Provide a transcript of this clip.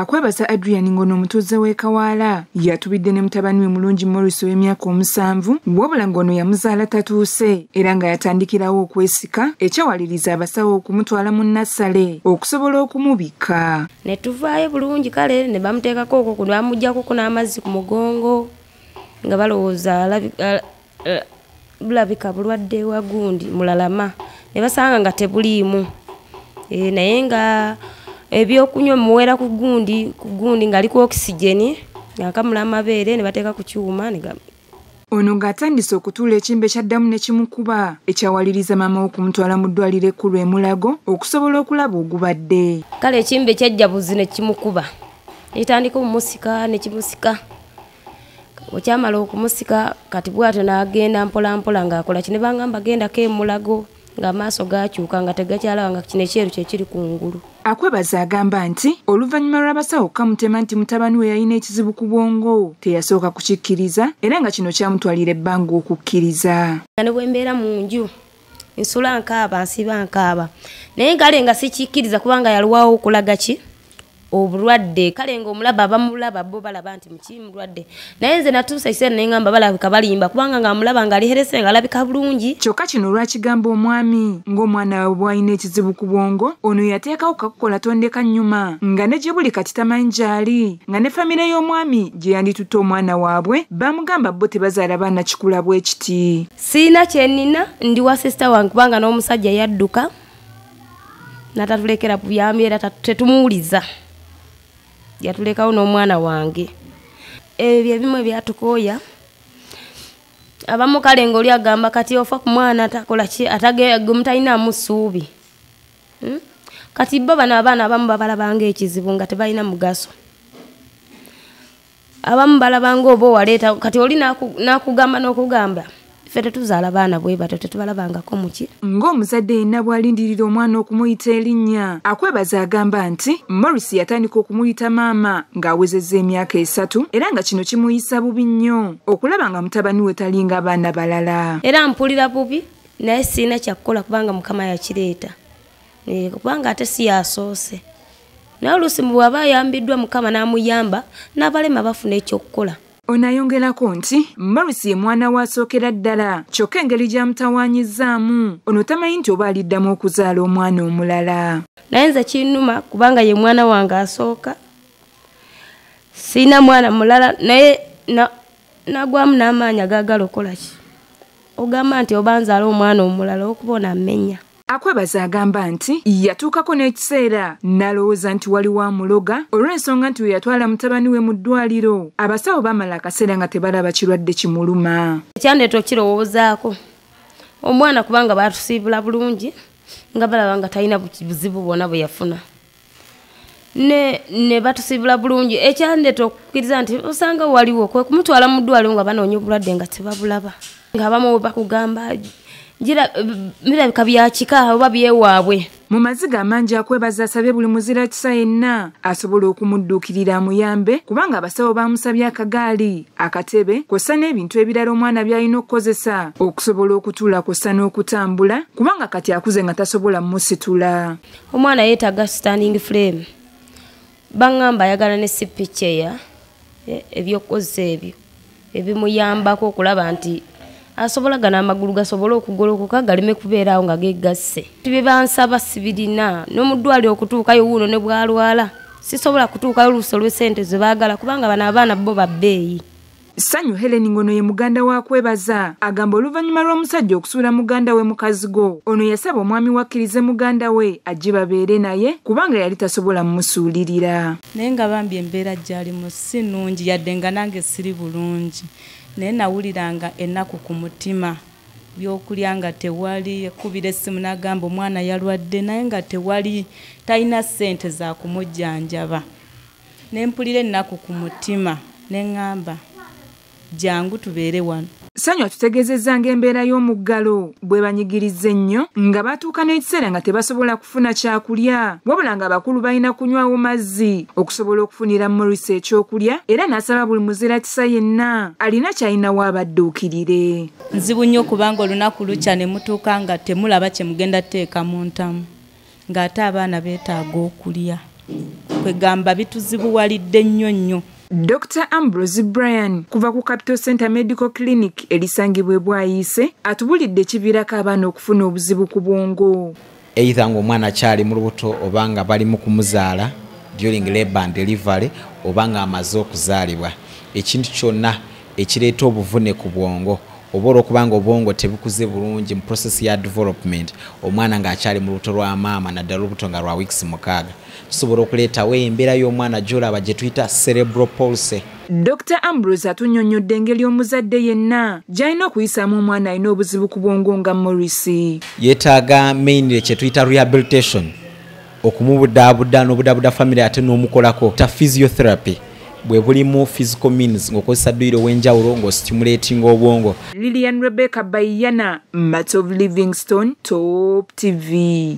Akwebaza Adrian ng'ono omutuuze w'e Kawaala yatubidde ne mutabani we Mulungi Morris ow'emyaka omusanvu wabula ng'ono yamuzaala tatuuse era nga yatandikirawo okwesika ekyawaliriza abasawo okumutwala mu nassale okusobola okumubikka. Ne tuvaayo bulungi kale ne bamuteekako okwo ku bamuggyako ku n'amazzi ku mugongo nga balowooza eh, bulabika bulwadde wa gundi mulalama ne basanga nga tebuliimu eh, naye nga ebyokunywa muwera ku gundi ku gundi ng'ali ku okisigeni ng'akamula amabeere ne bateeka ku kyuma ono ng'atandise okutuula ekimbe kyaddamu ne kimukuba ekyawaliriza maama okumutwala mu ddwaliro ekkulu emulago okusobola okulaba ogubadde kale ekimbe kyajja buzi ne kimukuba netandika omusika ne kimusika okyamala okumusika kati bwatyo nagenda mpolampola ngaakola ki nebangamba gendako emulago ng'amaaso gaakyuka nga tegakyalaba nga kino ekyeru kyekiri ku ngulu akwebaza agamba nti oluvannyuma lw'abasawo okukamutema nti mutabani we yalina ekizibu ku bwongo teyasooka kukikkiriza era nga kino kyamutwalira ebbanga okukkiriza nga ne bwe mbeera mu nju nsula nkaaba nsiba nkaaba naye kale nga sikikkiriza kubanga yaliwawo okulaga ki obulwadde kale ngaomulaba abamulaba bo balaba nti muki mulwadde naye nze natuusa ekiseera nengamba balabika balimba kubanga nga amulaba nga aliherese nga alabika bulungi kyokka kino olwakigamba omwami ng'omwana wawe bwalina ekizibu ku bwongo ono yateekawo kakukola tondeka nnyuma nga ne gye buli kati tamanyi gyali nga ne famire y'omwami gye yanditutte omwana waabwe bamugamba bo tebazaala baana kikula bwekiti siina kyenina ndi wa sisita wange kubanga n'omusajja yadduka natatulekera buyambi era tetumuwuliza yatulekawo n'omwana wange ebyo ebimu ebyatukooya abamu kale ngaoli agamba kati ofa ku mwana atakolaki atagemutalinamu ssuubi hmm? kati bo bano abaana abamu babalabanga ekizibu nga tebalina mugaso abamu balabanga oba owaleeta kati oli nakugamba nokugamba ffe tetuzaala baana bwe batyo tetubalabangako muki ng'omuzadde yenna bw'alindirira omwana okumuyita erinnya akwebaza agamba nti morris yatandika okumuyita maama ng'awezezza emyaka esatu era nga kino kimuyisa bubi nnyo okulaba nga mutabani we talinga abaana balala era mpulira bubi naye sirina kyakukola kubanga mukama yakireeta Eh, kubanga ate si yasoose naye oluusi mu bw'aba ayambiddwa mukama n'amuyamba n'abalema bafuna ekyokukola ono ayongerako nti morris ye mwana we asookera ddala kyokka engeri gy'amutawaanyizzaamu ono tamanyi nti oba aliddamu okuzaala omwana omulala naye nze kinnuma kubanga ye mwana wange asooka sirina mwana mulala naye nagwamu n'amaanyi agaagala okukola ki ogamba nti oba nzaala omwana omulala okuba onaamenya Akwebaza agamba nti yatuukako n'ekiseera n'alowooza nti waliwo amuloga olw'ensonga nti we yatwala mutabani we mu ddwaliro abasawo baamala akaseera nga tebalaba kirwadde kimuluma ekyandeeta okukirowoozaako omwana kubanga baatusiibula bulungi nga balaba nga talina buzibu bwona bwe yafuna ne ne batusibula bulungi ekyandeta okukkiriza nti osanga waliwo kwe kumutwala mu ddwaliro nga banoonya obulwadde nga tebabulaba ng'abamu we bakugamba birabika byakika oba byewaabwe mu maziga amangi akwebaza asabye buli muzira kisa yenna asobola okumudduukirira amuyambe kubanga abasawo baamusabye akagaali akatebe kwossa n'ebintu ebirala omwana by'alina okukozesa okusobola okutuula kwossa n'okutambula kubanga kati akuze nga tasobola musitula omwana yetaga standing frame bangamba ayagala ne sipicheya e, ebyokukozesa ebyo ebimuyambako okulaba nti asobola gana amagulu gasobole okugolokoka galeme kubeera awo nga gegasse bye bansaba sibirina n'omuddwali okutuukayo wuuno ne bwalwala sisobola kutuukayo oluuso lw'esente ze baagala kubanga bano abaana bo babbeeyi Ssanyu Helen ng'ono ye muganda wa kwebaza agamba oluvannyuma lw'omusajja okusuula muganda we mukazi go ono yasaba omwami wakkirize muganda we ajje babeere naye kubanga yali tasobola mumusuulirira naye nga bambi embeera gyalimu si nnungi yadde nga nange siri bulungi naye nawuliranga ennaku ku mutima byokulya nga tewali ekubira essimu n'agamba omwana yalwadde naye nga tewali talina ssente za kumujjanjaba Ne mpulira ennaku ku mutima ne ŋŋamba jangu tubeere wano. Ssanyu atutegeezezza ng'embeera y'omuggalo bw'ebanyigiriza ennyo nga batuuka n'ekiseera nga tebasobola kufuna kyakulya wabula ng'abakulu balina kunywawo mazzi okusobola okufunira Morris ekyokulya era n'asaba buli muzira kisa yenna alina ky'alinawo abadduukirire. Nzibu nnyo kubanga olunaku lukya ne mutuuka nga temulaba kye mugenda tuteeka mu ntamu. ng'ate abaana beetaaga okulya kwegamba bituzibuwalidde nnyo nnyo Dr Ambrose Brian kuva ku Capital Center Medical Clinic elisangibwa ebwayiise atubulidde ekiviirako abaana okufuna obuzibu ku bwongo eitha ngaomwana akyali mu lubuto oba nga bali mu kumuzaala during labor and delivery oba nga amaze okuzaalibwa ekintu kyonna ekireeta obuvune ku bwongo oba olwokuba nga obwongo tebukuze bulungi mu process ya development omwana ng'akyali mu lubuto lwa maama naddala olubuto nga lwa weeks mukaaga tusobola okuleetawo embeera y'omwana gyolaba gye tuyita cerebral policy Dr Ambrose atunyonyodde engeri omuzadde yenna gy'alina okuyisaamu omwana alina obuzibu ku bwongo nga Morris. Yeetaaga mainly kye tuyita rehabilitation okumubudaabuda n'obudaabuda famire ate n'omukolako ta physiotherapy bwe bulimu physical means ng'okozesa dduyiro ow'enjawulo ng'ositimuleetinga obwongo lilian rebecca bayana mats of livingstone top tv